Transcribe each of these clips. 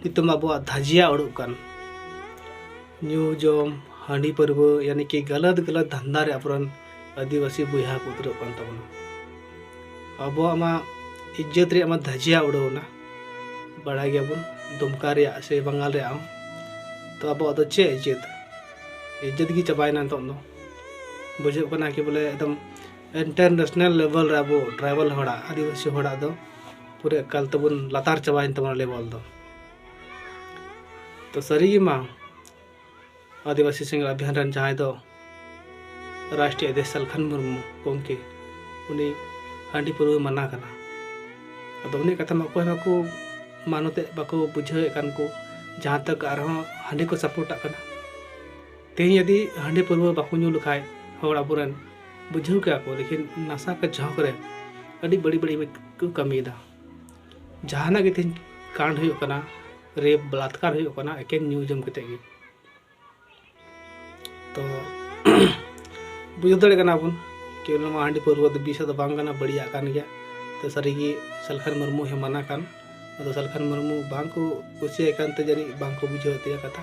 ᱱᱤᱛᱚᱜ ᱢᱟ ᱟᱵᱚᱣᱟᱜ ᱫᱷᱟᱹᱡᱤᱭᱟ ᱚᱲᱩᱜ ᱠᱟᱱ ᱧᱩ ᱡᱚᱢ ᱦᱟᱺᱰᱤ ᱯᱟᱹᱨᱣᱟᱹ ᱭᱟᱱᱤ ᱠᱤ ᱜᱟᱞᱟᱛ ᱜᱟᱞᱟᱛ ᱫᱷᱟᱱᱫᱟ ᱨᱮ ᱟᱵᱚᱨᱮᱱ ᱟᱹᱫᱤᱵᱟᱹᱥᱤ ᱵᱚᱭᱦᱟ ᱠᱚ ᱩᱛᱨᱟᱹᱜ ᱠᱟᱱ ᱛᱟᱵᱚᱱᱟ ᱟᱵᱚᱣᱟᱜ ᱢᱟ ᱤᱡᱽᱡᱚᱛ ᱨᱮᱭᱟᱜ ᱢᱟ ᱫᱷᱟᱹᱡᱤᱭᱟ ᱩᱰᱟᱹᱣᱱᱟ ᱵᱟᱲᱟᱭ ᱜᱮᱭᱟᱵᱚᱱ ᱫᱩᱢᱠᱟ ᱨᱮᱭᱟᱜ ᱥᱮ ᱵᱟᱝᱜᱟᱞ ᱨᱮᱭᱟᱜ ᱦᱚᱸ ᱛᱚ ᱟᱵᱚᱣᱟᱜ ᱫᱚ ᱪᱮᱫ ᱤᱡᱽᱡᱚᱛ ᱤᱡᱽᱡᱚᱛ ᱜᱮ ᱪᱟᱵᱟᱭᱮᱱᱟ ᱱᱤᱛᱚᱜ ᱫᱚ ᱵᱩᱡᱷᱟᱹᱜ ᱠᱟᱱᱟ ᱠᱤ ᱵᱚᱞᱮ ᱮᱠᱫᱚᱢ ᱤᱱᱴᱟᱨᱱᱮᱥᱱᱟᱞ ᱞᱮᱵᱮᱞ ᱨᱮ ᱟᱵᱚ ᱴᱨᱟᱭᱵᱮᱞ ᱦᱚᱲᱟᱜ ᱟᱹᱫᱤᱵᱟᱹᱥᱤ ᱦᱚᱲᱟᱜ ᱫᱚ ᱯᱩᱨᱟᱹ ᱮᱠᱟᱞ ᱛᱮᱵᱚᱱ ᱞᱟᱛᱟᱨ ᱪᱟᱵᱟᱭᱮᱱ ᱛᱟᱵᱚᱱᱟ ᱞᱮᱵᱚᱞ ᱫᱚ ᱛᱚ ᱥᱟᱹᱨᱤᱜᱮ ᱢᱟ ᱟᱹᱫᱤᱵᱟᱹᱥᱤ ᱥᱮᱸᱜᱮᱞ ᱟᱵᱷᱤᱭᱟᱱ ᱨᱮᱱ ᱡᱟᱦᱟᱸᱭ ᱫᱚ ᱨᱟᱥᱴᱨᱤᱭᱚ ᱟᱫᱮᱥ ᱥᱟᱞᱠᱷᱟᱱ ᱢᱩᱨᱢᱩ ᱜᱚᱢᱠᱮ ᱩᱱᱤ ᱦᱟᱺᱰᱤ ᱯᱟᱹᱨᱣᱟᱹ ᱢᱟᱱᱟ ᱠᱟᱱᱟ ᱟᱫᱚ ᱩᱱᱤ ᱠᱟᱛᱷᱟ ᱢᱟ ᱚᱠᱚᱭ ᱵᱟᱠᱚ ᱢᱟᱱᱚᱛᱮᱫ ᱵᱟᱠᱚ ᱵᱩᱡᱷᱟᱹᱣᱮᱫ ᱠᱟᱱ ᱠᱚ ᱡᱟᱦᱟᱸ ᱛᱟᱠ ᱟᱨᱦᱚᱸ ᱦᱟᱺᱰᱤ ᱠᱚ ᱥᱟᱯᱳᱨᱴᱟᱜ ᱠᱟᱱᱟ ᱛᱮᱦᱮᱧ ᱡᱩᱫᱤ ᱦᱟᱺᱰᱤ ᱯᱟᱹᱨᱣᱟᱹ ᱵᱟᱠᱚ ᱧᱩ ᱞᱮᱠᱷᱟᱡ ᱦᱚᱲ ᱟᱵᱚᱨᱮᱱ ᱵᱩᱡᱷᱟᱹᱣ ᱠᱮᱭᱟ ᱠᱚ ᱞᱮᱠᱤᱱ ᱱᱟᱥᱟ ᱠᱟ ᱡᱷᱚᱸᱠ ᱨᱮ ᱟᱹᱰᱤ ᱵᱟᱹᱲᱤᱡ ᱵᱟᱹᱲᱤᱡ ᱠᱚ ᱠᱟᱹᱢᱤᱭᱮᱫᱟ ᱡᱟᱦᱟᱱᱟᱜ ᱜᱮ ᱛᱮᱦᱮᱧ ᱠᱟᱱᱰ ᱦᱩᱭᱩᱜ ᱠᱟᱱᱟ ᱨᱮᱯ ᱵᱟᱞᱟᱛᱠᱟᱨ ᱦᱩᱭᱩᱜ ᱠᱟᱱᱟ ᱮᱠᱮᱱ ᱧᱩ ᱡᱚᱢ ᱠᱟᱛᱮ ᱜᱮ ᱛᱚ ᱵᱩᱡᱷᱟᱹᱣ ᱫᱟᱲᱮᱭᱟᱜ ᱠᱟᱱᱟ ᱵᱚᱱ ᱠᱤ ᱱᱚᱣᱟ ᱦᱟᱺᱰᱤ ᱯᱟᱹᱨᱣᱟᱹ ᱫᱚ ᱵᱤᱥᱟ ᱫᱚ ᱵᱟᱝ ᱠᱟᱱᱟ ᱵᱟᱹᱲᱤᱡᱟᱜ ᱠᱟᱱ ᱜᱮᱭᱟ ᱛᱚ ᱥᱟᱹᱨᱤᱜᱮ ᱥᱟᱞᱠᱷᱟᱱ ᱢᱩᱨᱢᱩ ᱦᱮᱢᱟᱱᱟ ᱠᱟᱱ ᱟᱫᱚ ᱥᱟᱞᱠᱷᱟᱱ ᱢᱩᱨᱢᱩ ᱵᱟᱝ ᱠᱚ ᱠᱩᱥᱤᱭᱟᱭ ᱠᱟᱱᱛᱮ ᱡᱟᱹᱱᱤᱡ ᱵᱟᱝ ᱠᱚ ᱵᱩᱡᱷᱟᱹᱣ ᱛᱟᱭᱟ ᱠᱟᱛᱷᱟ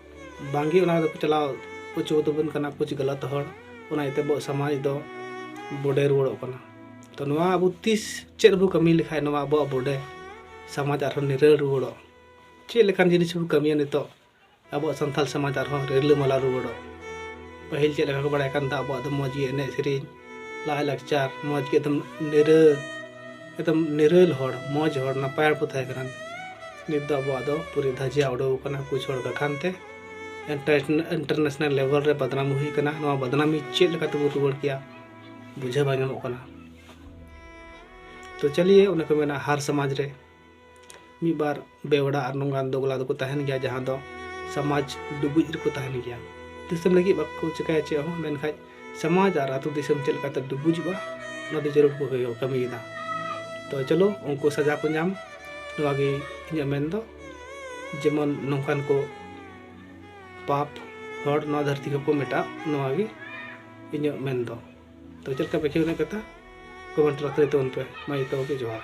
ᱵᱟᱝᱜᱮ ᱚᱱᱟ ᱫᱚᱠᱚ ᱪᱟᱞᱟᱣ ᱚᱪᱚ ᱟᱵᱚᱱ ᱠᱟᱱᱟ ᱠᱩᱪ ᱜᱟᱞᱟᱛ ᱦᱚᱲ ᱚᱱᱟ ᱤᱭᱟᱹᱛᱮ ᱟᱵᱚᱣᱟᱜ ᱥᱚᱢᱟᱡᱽ ᱫᱚ ᱵᱚᱰᱮ ᱨᱩᱣᱟᱹᱲᱚᱜ ᱠᱟᱱᱟ ᱛᱚ ᱱᱚᱣᱟ ᱟᱵᱚ ᱛᱤᱥ ᱪᱮᱫ ᱵᱚ ᱠᱟᱹᱢᱤ ᱞᱮᱠᱷᱟᱱ ᱱᱚᱣᱟ ᱟᱵᱚᱣᱟᱜ ᱵᱚᱰᱮ ᱥᱚᱢᱟᱡᱽ ᱟᱨᱦᱚᱸ ᱱᱤᱨᱟᱹᱲ ᱨᱩᱣᱟᱹᱲᱚᱜ ᱪᱮᱫ ᱞᱮᱠᱟᱱ ᱡᱤᱱᱤᱥ ᱵᱚ ᱠᱟᱹᱢᱤᱭᱟ ᱱᱤᱛᱚᱜ ᱟᱵᱚᱣᱟᱜ ᱥᱟᱱᱛᱟᱲ ᱥᱚᱢᱟᱡᱽ ᱟᱨᱦᱚᱸ ᱨᱤᱞᱟᱹᱢᱟᱞᱟ ᱨᱩᱣᱟᱹᱲᱚᱜ ᱯᱟᱹᱦᱤᱞ ᱪᱮᱫ ᱞᱮᱠᱟ ᱠᱚ ᱵᱟᱲᱟᱭ ᱠᱟᱱ ᱛᱟᱦᱮᱸᱫ ᱟᱵᱚᱣᱟᱜ ᱫᱚ ᱢᱚᱡᱽ ᱜᱮ ᱮᱱᱮᱡ ᱥᱮᱨᱮᱧ ᱞᱟᱭ ᱞᱟᱠᱪᱟᱨ ᱢᱚᱡᱽ ᱜᱮ ᱮᱠᱫᱚᱢ ᱱᱤᱨᱟᱹ ᱮᱠᱫᱚᱢ ᱱᱤᱨᱟᱹᱞ ᱦᱚᱲ ᱢᱚᱡᱽ ᱦᱚᱲ ᱱᱟᱯᱟᱭ ᱦᱚᱲ ᱠᱚ ᱛᱟᱦᱮᱸ ᱠᱟᱱᱟ ᱱᱤᱛ ᱫᱚ ᱟᱵᱚᱣᱟᱜ ᱫᱚ ᱯᱩᱨᱟᱹ ᱫᱷᱟᱡᱤᱭᱟ ᱩᱰᱟᱹᱣ ᱠᱟᱱᱟ ᱠᱩᱪ ᱦᱚᱲ ᱠᱟᱠᱷᱟᱱ ᱛᱮ ᱤᱱᱴᱟᱨᱱᱮᱥᱱᱟᱞ ᱞᱮᱵᱮᱞ ᱨᱮ ᱵᱟᱫᱱᱟᱢ ᱦᱩᱭ ᱠᱟᱱᱟ ᱱᱚᱣᱟ ᱵᱟᱫᱱᱟᱢᱤ ᱪᱮᱫ ᱞᱮᱠᱟ ᱛᱮᱵᱚ ᱨᱩᱣᱟᱹᱲ ᱠᱮᱭᱟ ᱵᱩᱡᱷᱟᱹᱣ ᱵᱟᱝ ᱧᱟᱢᱚᱜ ᱠᱟᱱᱟ ᱛᱚ ᱪᱟᱞᱤᱭᱮ ᱚᱱᱮ ᱠᱚ ᱢᱮᱱᱟ ᱦᱟᱨ ᱥᱚᱢᱟᱡᱽ ᱨᱮ ᱢᱤᱫ ᱵᱟᱨ ᱵᱮᱣᱲᱟ ᱟᱨ ᱱᱚᱝᱠᱟᱱ ᱫᱚᱜᱽᱞᱟ ᱫᱚᱠᱚ ᱛᱟᱦᱮᱱ ᱜᱮᱭᱟ ᱡᱟᱦᱟᱸ ᱫᱚ ᱥᱚᱢᱟᱡᱽ ᱰᱩᱵᱩᱡ ᱨᱮᱠᱚ ᱛᱟᱦᱮᱱ ᱜᱮᱭᱟ ᱫᱤᱥᱚᱢ ᱞᱟᱹᱜᱤᱫ ᱵᱟᱠᱚ ᱪᱮᱠᱟᱭᱟ ᱪᱮᱫ ᱦᱚᱸ ᱢᱮᱱᱠᱷᱟᱱ ᱥᱚᱢᱟᱡᱽ ᱟᱨ ᱟᱛᱳ ᱫᱤᱥᱚᱢ ᱪᱮᱫ ᱞᱮᱠᱟᱛᱮ ᱰᱩᱵᱩᱡᱚᱜᱼᱟ ᱚᱱᱟ ᱫᱚ ᱡᱟᱹᱨᱩᱲ ᱠᱚ ᱠᱟᱹᱢᱤᱭᱮᱫᱟ ᱛᱚ ᱪᱚᱞᱚ ᱩᱱᱠᱩ ᱥᱟᱡᱟ ᱠᱚ ᱧᱟᱢ ᱱᱚᱣᱟ ᱜᱮ ᱤᱧᱟᱹᱜ ᱢᱮᱱ ᱫᱚ ᱡᱮᱢᱚᱱ ᱱᱚᱝᱠᱟᱱ ᱠᱚ ᱯᱟᱯ ᱦᱚᱲ ᱱᱚᱣᱟ ᱫᱷᱟᱹᱨᱛᱤ ᱠᱚᱠᱚ ᱢᱮᱴᱟᱜ ᱱᱚᱣᱟ ᱜᱮ ᱤᱧᱟᱹᱜ ᱢᱮᱱ ᱫᱚ ᱛᱚ ᱪᱮᱫ ᱞᱮᱠᱟ ᱯᱮ ᱠᱷᱮᱞ ᱨᱮᱱᱟᱜ ᱠᱟᱛᱷᱟ ᱠᱚᱢᱮᱱᱴ ᱨᱮ ᱞᱟᱹᱭ ᱛᱟᱵᱚᱱ ᱯᱮ ᱢᱟ ᱡᱚᱛᱚ ᱜᱮ ᱡᱚᱦᱟᱨ